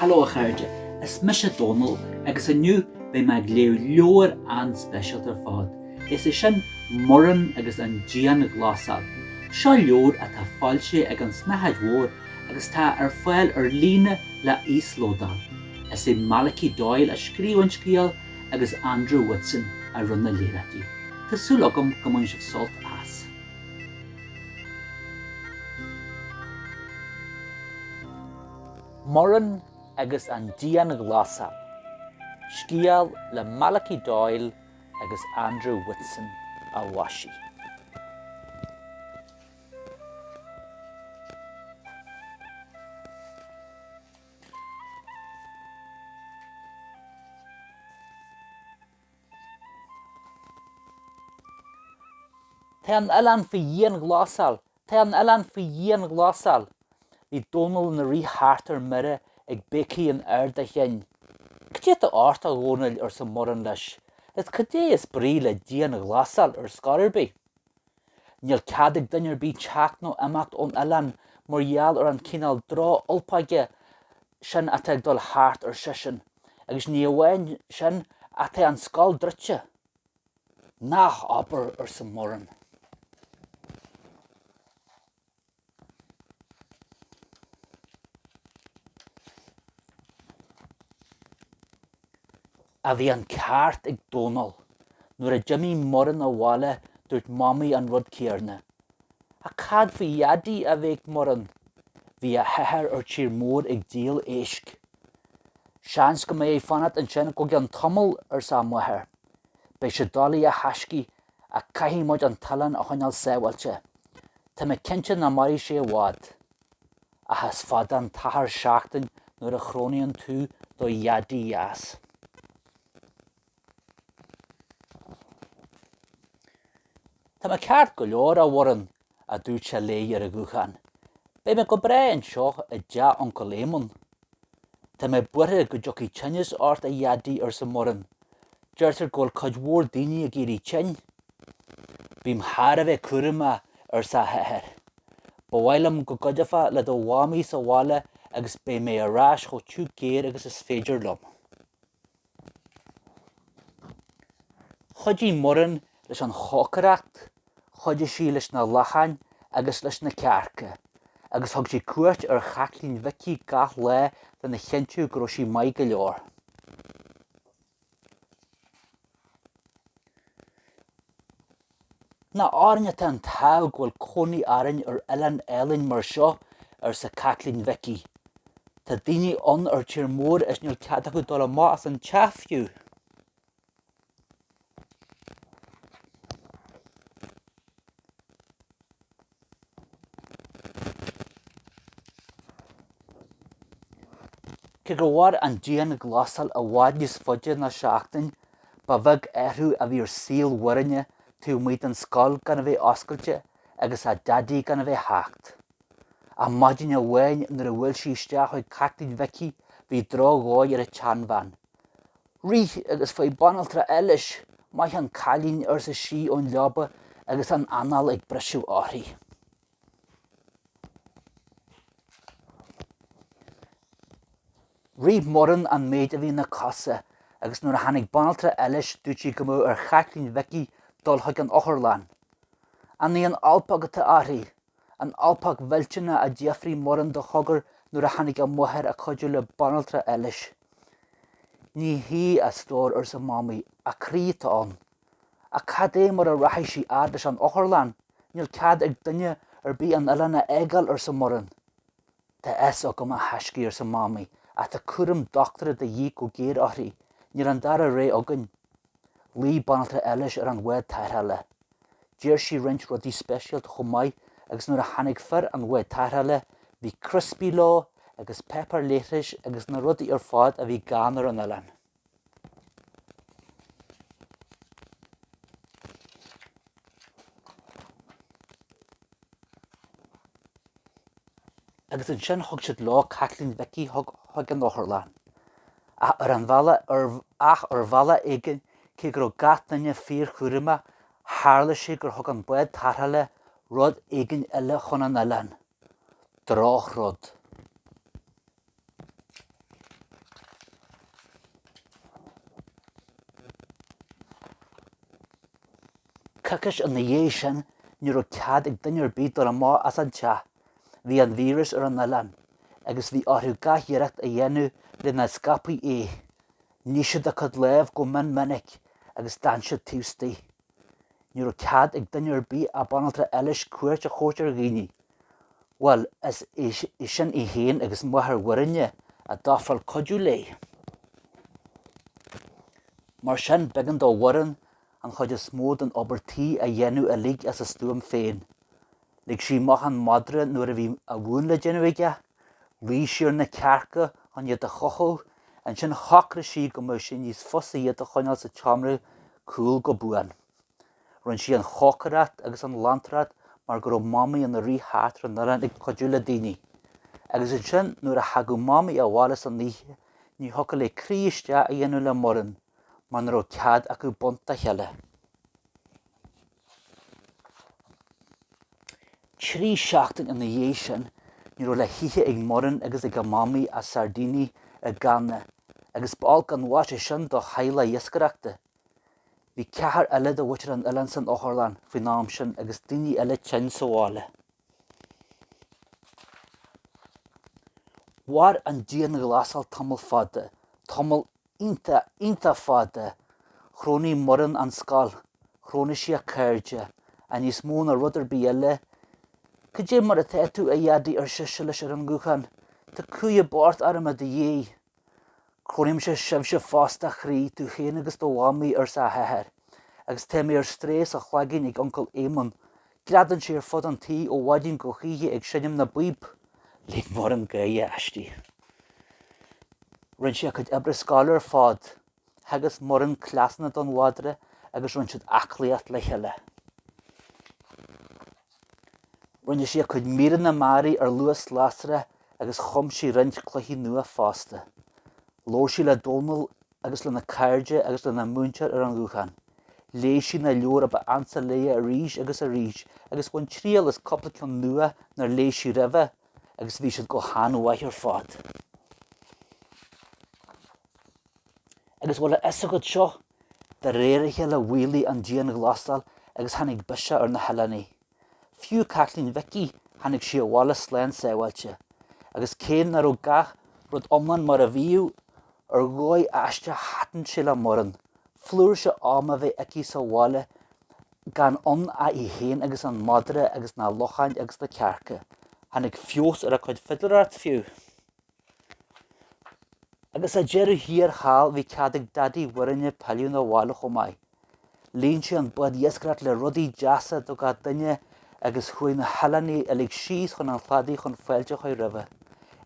Hello a chairde, is mise Dónal agus inniu beidh mé ag léamh leabhar an-speisialta ar fad, is é sin Muireann agus an Dianghlasáil. Seo leabhar atá foilsithe ag An tSnáthaid Mhór agus tá ar fáil ar líne le híoslódáil. Is é Malachy Doyle a scríobh an scéal agus Andrew Whitson a rinne na léaráidí. Tá súil agam go mbainfidh sibh sult as. Muireann agus an dianghlasáil, scéal le Malachy Doyle agus Andrew Whitson a mhaisigh. Tá an t-oileán faoi dhianghlasáil Tá an t-oileán faoi dhianghlasáil. Bhí Dónall ina rith thart ar mire ag béicigh in ard a chinn. Cad é atá ort, a Dhónaill, arsa Muireann leis, is cad é is brí le dianghlasáil ar scor ar bith? Níl cead ag duine ar bith teacht nó imeacht ón oileán mar gheall ar an chineál droch-ulpáige sin atá ag dul thart, ar seisean, agus ní amháin sin ach tá an scoil druidte. Nach abair, arsa Muireann. Ach bhí an ceart ag Dónall. Nuair a d'imigh Muireann abhaile dúirt Mamaí an rud céarna. Ach cad faoi Dhaidí? a bhéic Muireann. Bhí a hathair ar tír mór ag díol éisc. Seans go mbeidh air fanacht ansin go ceann tamaill, arsa a máthair. Beidh sé doiligh a thaiscidh ach caithfidh muid an t-oileán a choinneáil sábháilte. Tá mé cinnte nach mairfidh sé i bhfad. Ach is fada an t-achar seachtain nuair a chrónaíonn tú do dhaidí, a dheas. Tá mé ceart go leor, a Mhuireann, a dúirt sé léi ar a ghuthán. Beidh mé go breá anseo i dteach Uncail Éamonn. Tá mé buartha go dtiocfaidh tinneas ort, a Dhaidí, arsa Muireann. Deirtear go bhfuil cuid mhór daoine ag éirí tinn. Bím thar a bheith cúramach, arsa a hathair. Ba mhaith liom go gcuideofá le do mhamaí sa bhaile agus beidh mé ar ais chomh tiubh géar agus is féidir liom. Chuidigh Muireann leis an chócaireacht, chuidigh sí leis na lachain agus leis na cearca, agus thug sí cuairt ar Chaitlín Mhicí gach lá lena chinntiú go raibh sí maith go leor. Nach orainn atá an t-ádh go bhfuil cónaí orainn ar oileán álainn mar seo, arsa Caitlín Mhicí. Tá daoine ann ar tír mór is níl cead acu dul amach as an teach fiú. Cé gur mhair an dianghlasáil i bhfad níos faide ná seachtain, ba bheag athrú a bhí ar shaol Mhuirinne taobh amuigh den scoil gan a bheith oscailte agus a Daidí gan a bheith ag teacht. Ach maidin amháin nuair a bhuail sí isteach chuig Caitlín Mhicí bhí drochdhóigh ar an tseanbhean. Rith agus faigh banaltra Eilís, maith an cailín, arsa sí ón leaba agus an anáil ag briseadh uirthi. Rith Muireann an méid a bhí ina cosa agus nuair a tháinig banaltra Eilís dúirt sí go mbeadh ar Chaitlín Mhicí dul chuig an otharlann. An í an alpaca atá uirthi? An alpaca mhillteanach? a d'fhiafraigh Muireann de chogar nuair a tháinig a máthair ag cuidiú le banaltra Eilís. Ní hea, a stór, arsa Mamaí, a croí atá ann. Ach cad é mar a rachaidh sí fhad leis an otharlann? Níl cead ag duine ar bith an t-oileán a fhágáil, arsa Muireann. Tá a fhios agam, a thaiscidh, arsa Mamaí, ach tá cúram dochtúra de dhíth go géar uirthi. Níl an dara rogha againn. Ghlaoigh banaltra Eilís ar an bhád tarrthála. D'iarr sí roinnt rudaí speisialta chomh maith agus nuair a tháinig fir an bháid tarrthála, bhí criospaí leo agus páipéar leithris agus na rudaí ar fad a bhí gann ar an oileán. Agus ansin thug siad leo Caitlín Mhicí chuig an otharlann. Ach ar an bhealach, ach ar bhealach éigin, cé go raibh gach duine fíorchúramach, tharla sé gur thug an bád tarrthála rud éigin eile chun an oileáin. Drochrud. Coicís ina dhiaidh sin, ní raibh cead ag duine ar bith dul amach as an teach. Bhí an víreas ar an oileán agus bhí orthu gach iarracht a dhéanamh le nach scaipfí é. Nigh siad a gcuid lámh go mion minic agus d'fhan siad taobh istigh. Ní raibh cead ag duine ar bith ach banaltra Eilís cuairt a thabhairt ar dhaoine. Bhuel, is é sin í féin agus máthair Mhuirinne a d'ofráil cuidiú léi. Mar sin, b'éigean do Mhuireann an chuid is mó den obair tí a dhéanamh uilig as a stuaim féin. Lig sí amach an madra nuair a bhí a mhún le déanamh aige, riar sí ar na cearca chun iad a chothú, ansin shocraigh sí go mbeadh sé níos fusa iad a choinneáil sa tseomra cúil go buan. Rinne sí an chócaireacht agus an ghlantacht mar go raibh Mamaí ina rí-chathaoirleach ar an oileán ag cuidiú le daoine, agus ansin nuair a thagadh Mamaí abhaile san oíche ní thiocfadh léi croí isteach a dhéanamh le Muireann mar ní raibh cead acu baint dá chéile. Trí sheachtain ina dhiaidh sin, ní raibh le hithe ag Muireann agus ag a mamaí ach sairdíní i gcanna, agus ba olc an mhaise sin do theaghlaigh iascaireachta. Bhí ceathar eile de mhuintir an oileáin san otharlann faoin am sin agus daoine eile tinn sa bhaile. Mhair an dianghlasáil tamall fada, tamall Iontach, iontach fada. Chrónaigh Muireann an scoil. Chrónaigh sí a cairde. Ach níos mó ná rud ar bith eile. Cad é mar atá tú, a Dhaidí, ar sise leis ar an nguthán. Tá cumhaidh as pabhar orm i do dhiaidh. Crónaímse sibhse fosta, a chroí, tú féin agus do Mhamaí, arsa a hathair. Agus tá mé ar strae sa chloigeann ag Uncail Éamonn. Greadann sé ar fud an tí ó mhaidin go hoíche ag seinm na bpíb. Lig Muireann gáire aisti. Rinne sí a cuid oibre scoile ar fad. Theagasc Muireann cleasanna don mhadra agus rinne siad aclaíocht le chéile. Rinne sí a cuid míreanna mearaí ar luas lasrach agus chum sí roinnt cluichí nua fosta. Labhair sí le Dónall agus lena cairde agus lena múinteoir ar an ghuthán. Léigh sí na leabhair a ba ansa léi arís agus arís agus bhain triail as cúpla ceann nua nár léigh sí roimhe agus bhí siad go han-mhaith ar fad. Agus bhfuil a fhios agat seo, de réir a chéile mhaolaigh an dianghlasáil agus tháinig biseach ar na hoileánaigh. Fiú Caitlín Mhicí, tháinig sí abhaile slán sábháilte, agus cé ná raibh gach rud iomlán mar a bhíodh, ar dhóigh aisteach thaitin sé le Muireann flúirse ama a bheith aici sa bhaile gan ann ach í féin agus an madra agus na lachain agus na cearca. Tháinig feabhas ar a cuid fidléireachta fiú. Agus ar deireadh thiar thall bhí cead ag Daidí Mhuirinne pilleadh 'na bhaile chomh maith. Líon sé an bád iascaireachta le rudaí deasa do gach duine agus chuaigh na hoileánaigh uilig síos chun an chladaigh chun fáilte a chur roimhe.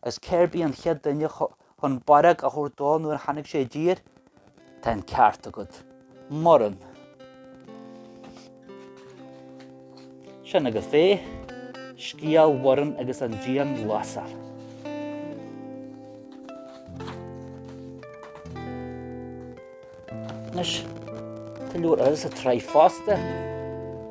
Agus cérbh í an chéad duine chun barróg a thabhairt dó nuair a tháinig sé i dtír? Tá an ceart agat. Muireann. Sin agaibh é. Scéal Mhuireann agus an Dianghlasáil. Anois, tá leabhar eile sa tsraith fosta.